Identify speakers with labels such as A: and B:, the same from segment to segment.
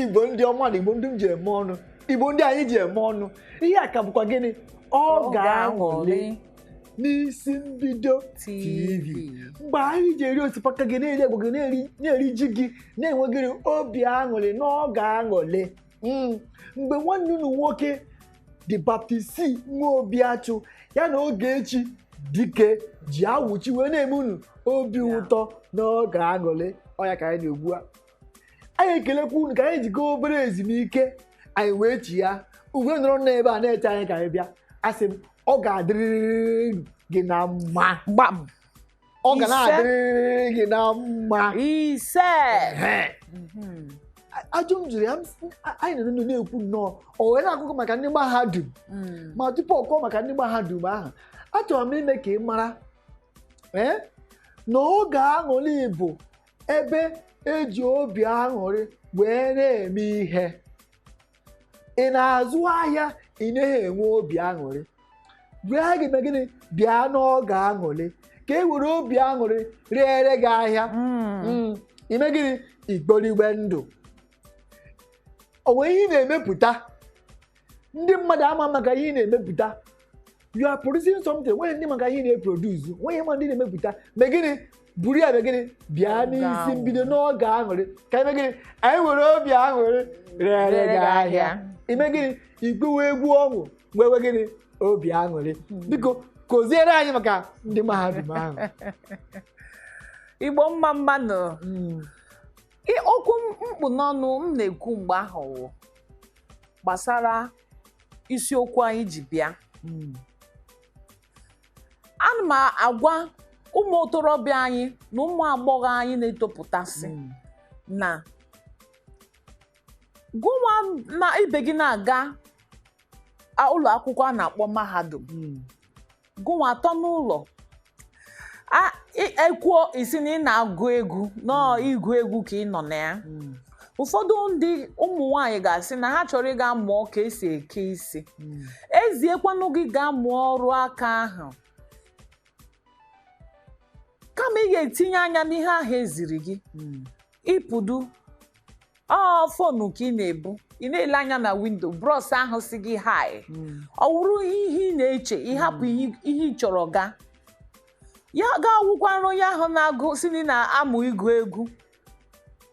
A: igbo ndị ọma na igbo ndị m ji eme ọnụ igbo ndị anyị ji eme ọnụ ihe a ka bụkwa gịnị oge aṅụlị n'isi mbido tv mgbe anyị ji eri osikapa gị na-eri agwa gị na-eri ji gị na-enwe gịnị obi aṅụrị n'oge aṅụlị Mm, mgbe nwanne unu nwoke dị baptisi nwa obi achụ ya na Ogechi dike ji awụchi wee na-eme unu obi Ya. ụtọ n'oge aṅụrị ọ ya ka anyị na-ekwu a anyị ekelekwa unu ka anyị ji gaa obere ezumike anyị wee chigha i wee nọrọ n'ebe a na-eche anyị ka anyị bịa asị m ọ ga-adịrịrị gị na mma gbam ọ ga Ise. na-adịrịrị gị na mma
B: ise Ehe.
A: Mhm. ajụ m jụrụ ya m sị, "A- anyị nọ n'ụlọ na-ekwu nnọọ o wee na-akụkọ maka ndị mahadum Mm. ma tupu ọ kọọ maka ndị mahadum ahụ achọrọ m ime ka ị mara ee na oge aṅụrị bụ ebe e ji obi aṅụrị wee na-eme ihe ị na-azụ ahịa ị naghị enwe obi aṅụrị bịa gị mee gịnị bịa n'oge aṅụrị ka e were obi aṅụrị reere gị ahịa Mm. Mm, ị mee gịnị ị kporiwe ndụ o nwere ihe ị na-emepụta ndị mmadụ ama maka ihe ị na-emepụta you are producing something nwere ndị maka ihe ị na-eproduce nwere ma ndị na-emepụta mee gịnị buru ya gịnị bịa n'isi mbido n'oge aṅụrị ka e mee gịnị anyị were obi aṅụrị reere gị ahịa ị mee gịnị ị gụwe egwu ọṅụ nwewe gịnị obi aṅụrị hmm. biko kụziere anyị maka ndị mahadum ahụ
B: igbo mmamma nụ hmm. okwu m kpụ n'ọnụ m na-ekwu mgbe ahụ gbasara isiokwu anyị ji bịa hmm. ana m agwa ụmụ otorobịa anyị na ụmụ agbọghọ anyị na-etopụtasị hmm. na gụnwa na ibe gị na-aga ụlọ akwụkwọ a na-akpọ mahadum hmm. gụnwa atọ n'ụlọ a ị- ekwuo sị na ị na-agụ egwu na ọ ịgụ egwu ka ị nọ na ya ụfọdụ ndị ụmụ nwaanyị ga-asị na ha chọrọ ịga mụọ ka e si eke isi e ziekwanụ gị gaa mụọ ọrụ aka ahụ kama ị ga-etinye anya n'ihe ahụ e ziri gị ịpụdu ọ fonu ka ị na-ebu ị na-ele anya na windo bros ahụ sị gị hi ọ wụrụ ihe ị na-eche ị hapụ ihe ihe ị chọrọ ga ya ga-awụkwara onye ahụ na-agụ sị na ị na-amụ ịgụ egwu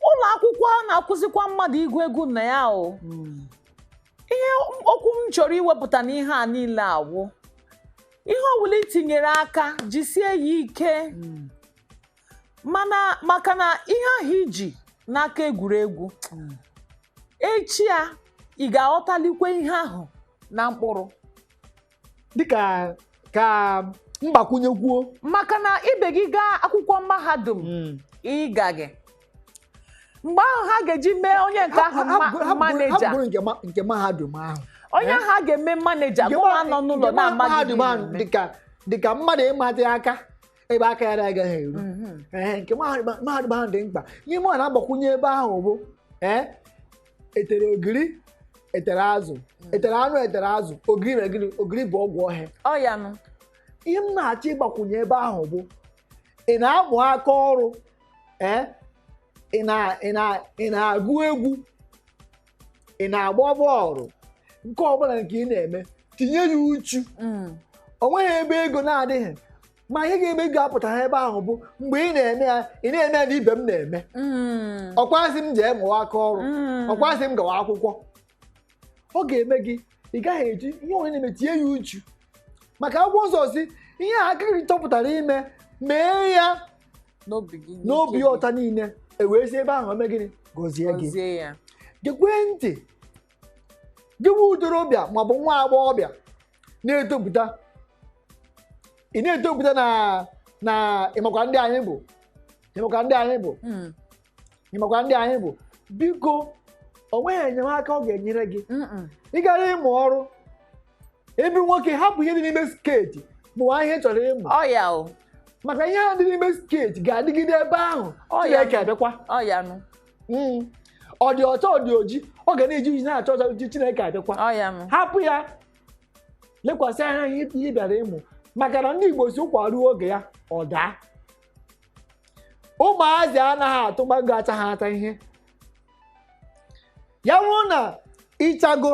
B: ụlọ akwụkwọ a na-akụzikwa mmadụ ịgụ egwu na ya o ihe okwu m chọrọ iwepụta n'ihe a niile awụ ihe ọbụla i tinyere aka jisie ya ike mana maka na ihe ahụ i ji n'aka egwuregwu echi ya ị ga-aghọtalikwe ihe ahụ na mkpụrụ
A: dịka ka m gbakwunyekwuo maka na ibe
B: gị gaa akwụkwọ mahadum ị gaghị mgbe ahụ ha ga-eji mee onye nke ahụ maneja nke
A: mahadum ahụ onye ahụ a ga-eme
B: maneja mụ nọ n'ụlọ na-amaghị
A: dịka mmadụ ịmatị aka ebe aka ya na-agaghị eru Mhm. ee nke mahadum mahadum ahụ dị mkpa ihe mụ na-agbakwunye ebe ahụ bụ ee etere ogiri etere azụ etere anụ etere azụ ogiri na ogiri ogiri bụ ọgwụ ohe ọ ya nụ ihe m na-achọ ịgbakwunye ebe ahụ bụ ị na-amụ aka ọrụ ee ị na- ị na- ị na-agụ egwu ị na-agba bọọlụ nke ọbụla nke ị na-eme tinye ya uchu Mm. o nweghị ebe ego na-adịghị ma ihe ga-eme ego apụtaghị ebe ahụ bụ mgbe ị na-eme ya ị na-eme ya na ibe m na-eme Mm. ọkwa sị m jee mụwa aka ọrụ Mm. ọkwa sị m gawa akwụkwọ ọ ga-eme gị ị gaghị eji ihe onye na-eme tinye ya uchu maka akwụkwọ nsọ sị ihe aka gị chọpụtara ime mee ya n'obi gị n'obi n'ike gị. ọta niile e wee si ebe ahụ o mee gịnị gọzie gị gọzie ya gekwee ntị gị nwa ntorobịa maọbụ nwa agbọghọbịa na-etopụta ị na-etopụta na na ịmakwa ndị anyị bụ ịmakwa ndị anyị bụ Mm. ịmakwa ndị anyị bụ biko o nweghị enyemaka ọ ga-enyere gị Mm-mm. ị gara ịmụ ọrụ ebe nwoke hapụ ihe dị n'ime skeeti mụwa ihe ị chọrọ ịmụ ọ ya o maka ihe ahụ dị n'ime skeeti ga-adịgide ebe ahụ Ọ ya. Chineke abịakwa ọ ya nụ Mm. ọ dị ọcha ọ dị oji ọ ga na-eji oji na-acha ọcha uji Chineke abịakwa ọ ya nụ hapụ ya lekwasị anya ihe ihe ị bịara ịmụ maka na ndị Igbo sị ụkwa ruo oge ya ọ daa ụmụazị anaghị atụ mango achaghị acha ihe ya wụrụ na ịchago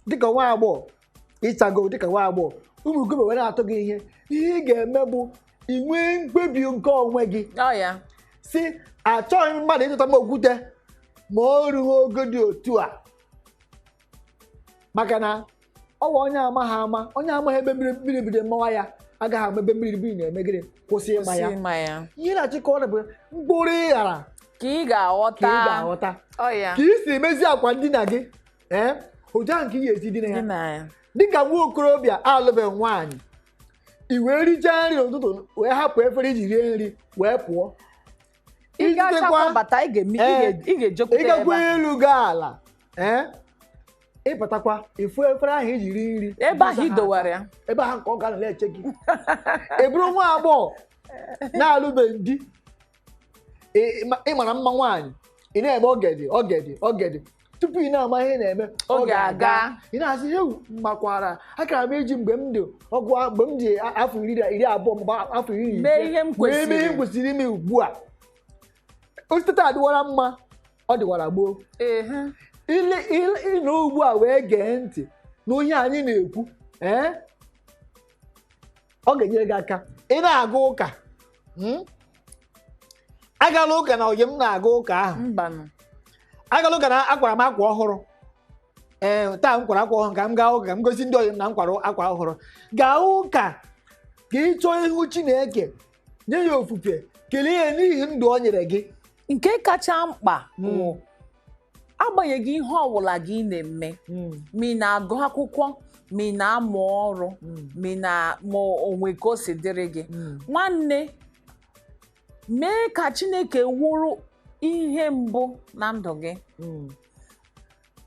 A: dịka nwa agbọghọ ịchago dịka nwa agbọghọ ụmụ okorobịa wee na-atụ gị ihe ihe ị ga-eme bụ inwe mkpebi nke onwe gị ọ ya sị achọghị m mmadụ ịtụta m okwute ma o rughị ogo dị otu a maka na ọwa onye amaghị ama onye amaghị ebe mmiri mmiri bido mawa ya agaghị ama ebe mmiri mmiri na-eme gịnị kwụsị ịma ya ịma ya ihe m na-achọ ịkọrọ ya bụ mkpụrụ ị ghara ka ị ga-aghọta
B: ka ị ga-aghọta Ọ ya. ka
A: ị si emezi akwa ndina gị ee otu ahụ ka ị ga-esi dina ya Dina ya. dịka nwa okorobịa alụbeghị nwaanyị i wee richaa nri n'ụtụtụ wee hapụ efere i ji rie nri wee pụọ ị Izitekwa- gachakwa bata ị ga-eme- ị Ee. ga- ị ga-ejekwute ebe ịgakwa ahụ. elu gaa ala ee ịbatakwa ị fụ efere ahụ i ji rie nri ebe ahụ ị dowara ya
B: ebe ahụ ka ọ ga
A: na-eche gị ị bụrụ nwa agbọghọ na-alụbeghị di Ị- ị ma- ị mara mma nwaanyị ị na-eme oge dị oge dị oge dị tupu ị na-ama ihe na-eme Oge
B: aga. ị na-asị
A: ewoo makwara akara m iji mgbe m dị ọgụ a- mgbe m dị a- afọ iri na- iri abụọ mgbe afọ iri na ise, Mee ihe m mee kwesịrị.
B: ihe m kwesịrị ime
A: ugbu a o site taa dịwara mma ọ dịwara gboo ehe ile ile ị nọ ugbu a wee gee ntị n'ihe anyị na-ekwu ee ọ ga-enyere gị aka ị na-aga ụka hmm? agala ụka na oyi m na-aga ụka ahụ mbanụ agala ụka na akwara m akwa ọhụrụ ee taa m kwara akwa ọhụrụ ka m gaa ụka ka m gosi ndị oyi m na m kwara akwa ọhụrụ gaa ụka ka ị chọọ ihu chineke nye ya ofufe kelee ya n'ihi ndụ o nyere gị nke
B: kacha mkpa bụ hmm. agbanyeghị ihe ọbụla gị na-eme hmm. ma ị na-agụ akwụkwọ ma ị na-amụ ọrụ hmm. ma na ma o nwee ka o si dịrị gị nwanne mee ka Chineke wụrụ ihe mbụ na ndụ gị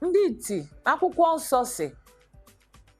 B: ndị iti akwụkwọ nsọ sị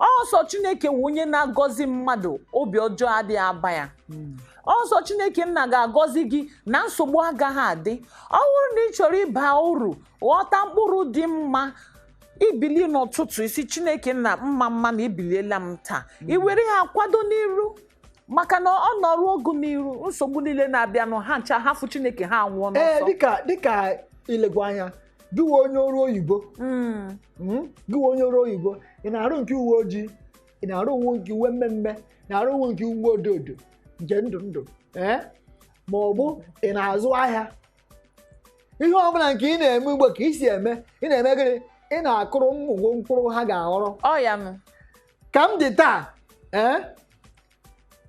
B: ọ sọ chineke wụ onye na-agọzi mmadụ obi ọjọọ adịghị aba ya ọ sọ chineke nna ga-agọzi gị na nsogbu agaghị adị ọ bụrụ na ị chọrọ ịba uru ghọta mkpụrụ dị mma i bilie n'ụtụtụ ị sị chineke nna mma mma na ebiliela m taa i were ha kwado n'iru maka na ọ nọrụ gị n'iru nsogbu niile na-abịanụ ha ncha ha fụ chineke ha awụọ ee n'ọsọ dịka dịka
A: i legwu anya gị wụ onye ọrụ oyibo Mm. Mm, gị wụ onye ọrụ oyibo ị na-arụ nke uwe ojii ị na-arụ uwe nke uwe mmee mmee ị na-arụ uwe nke uwe odo odo nke ndụ ndụ ee ma ọ bụ ị na-azụ ahịa ihe ọ bụla nke ị na-eme ugbo ka i si eme ị na-eme gịnị ị na-akụrụ ụmụ gị mkpụrụ ha ga-aghọrọ Ọ ya nụ. ka m dị taa ee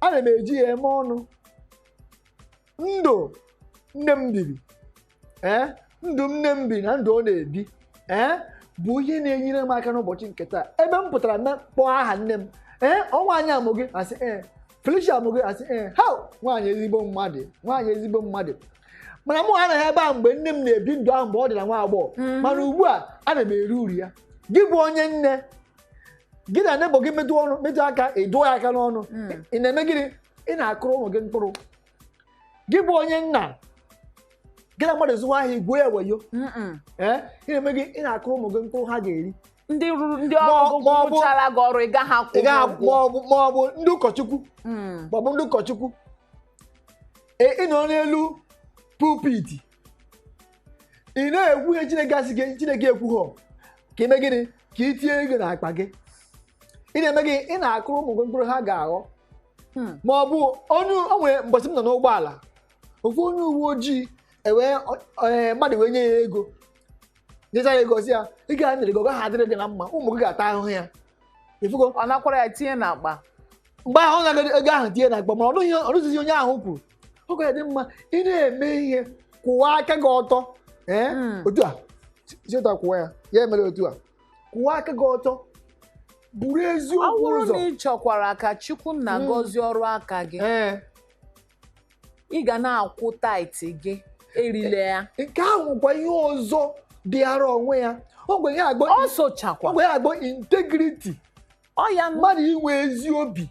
A: ana m eji ya eme ọnụ ndụ nne m biri ee ndụ nne m bi na ndụ ọ na-ebi ee bụ ihe na-enyere m aka n'ụbọchị nke taa ebe m pụtara a kpọọ aha nne m ee ọ nwaanyị a mụ gị a sị ee Felicia mụ gị a sị ee ha nwaanyị ezigbo mmadụ nwaanyị ezigbo mmadụ mana mụ anọghị ebe a mgbe nne m na-ebi ndụ ahụ mgbe ọ dị na nwa agbọghọ mhm. mana ugbu a ana m eri uru ya gị bụ onye nne gị na neighbour gị metụ ọnụ metụ aka ị dụọ ya aka n'ọnụ mm. ị na-eme gịnị ị na-akụrụ ụmụ gị mkpụrụ gị bụ onye nna gị na mmadụ zụwa ahịa i gwuo ya wayo Mm-mm. ee ị na-eme gị ị na-akụrụ ụmụ gị mkpụrụ ha ga-eri ndị rụrụ ndị
B: Ma ọ- ọrụ ma ọ bụ- rụchara gị ọrụ ị gaghị akwụ ị gaghị ụgwọ. maọbụ maọbụ ndị
A: ụkọchukwu Mm. maọbụ ndị ụkọchukwu Ee, ị nọ n'elu pulpit ị na-ekwu ihe chineke asịghị chineke ekwughọ ka i mee gịnị ka i tinye ego n'akpa gị ị na-eme gị ị na-akụrụ ụmụ gị mkpụrụ ha ga-aghọ Hmm. ma ọ bụ onye o nwere mbọsị m nọ n'ụgbọala ofu onye uwe ojii ewee ọ- ee, mmadụ wee nye ya ego nyesaa ya ego sị ya ego a m nyere gị ọ gaghị adịrị gị na mma ụmụ gị ga-ata ahụhụ ya ifugo ọ nakwara ya tinye
B: n'akpa mgbe ahụ ọ
A: nara ego ahụ tinye na akpa mana ọ nụghị- ọ nụzighị ihe onye ahụ kwuru ọ ga-adị mma ị na-eme ihe kwụwa aka gị ọtọ ee Mm. otu a cheta kwụwa ya ya emere otu a kwụwa aka gị ọtọ buru eziokwu ụzọ ọ bụrụ na ị chọkwara
B: ka chukwu nna Mm. gọzie ọrụ aka gị ee ị ga na-akwụ
A: tithe gị
B: erile
A: ya nke
B: ahụ kwa
A: ihe ọzọ dịara
B: onwe ya
A: ọ kwa ihe a kpọ ọ sochakwa ọ kwa ihe
B: a
A: kpọ integrity ọ ya
B: nụ mmadụ inwe ezi obi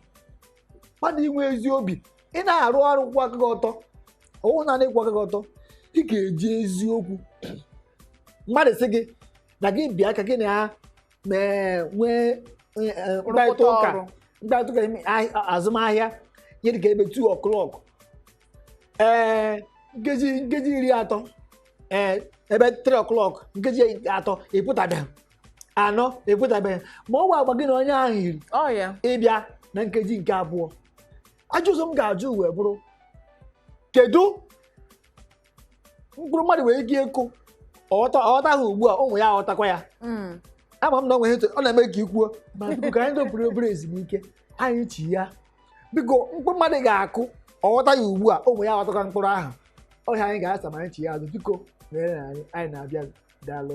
A: mmadụ inwe ezi obi ị na-arụ ọrụ kwụ aka gị ọtọ ọ wụ naanị ịkwụ aka gị ọtọ ị ga-eji eziokwu mmadụ sị gị na gị bịa ka gị na ya mee nwee eh, eh, mkparịta Rụpụta ụka ọrụ. mkparịta ụka ime ahị- azụmahịa ihe dịka ebe 2 o'clock ee nkeji nkeji iri atọ ee ebe 3 o'clock nkeji atọ ị pụtabeghị anọ ị pụtabeghị ma ọ kwa agba gị na onye ahụ yiri ọ ya ịbịa
B: na nkeji
A: nke abụọ ajụjụ ọzọ m ga-ajụ wee bụrụ kedu mkpụrụ mmadụ nwere ike ịkụ ọ ghọta ọ ghọta ya ugbu a ụmụ ya aghọtakwa ya Mm. ama m na ọ nwere etu ọ na-eme ka i kwuo ma biko ka anyị dopụrụ obere ezumike anyị chighaa biko mkpụrụ mmadụ ga-akụ ọ ghọta ya ugbu a ụmụ ya aghọtakwa mkpụrụ ahụ ọ ihe anyị ga-asa ma anyị chighaa azụ biko chere anyị anyị na-abịa daalụ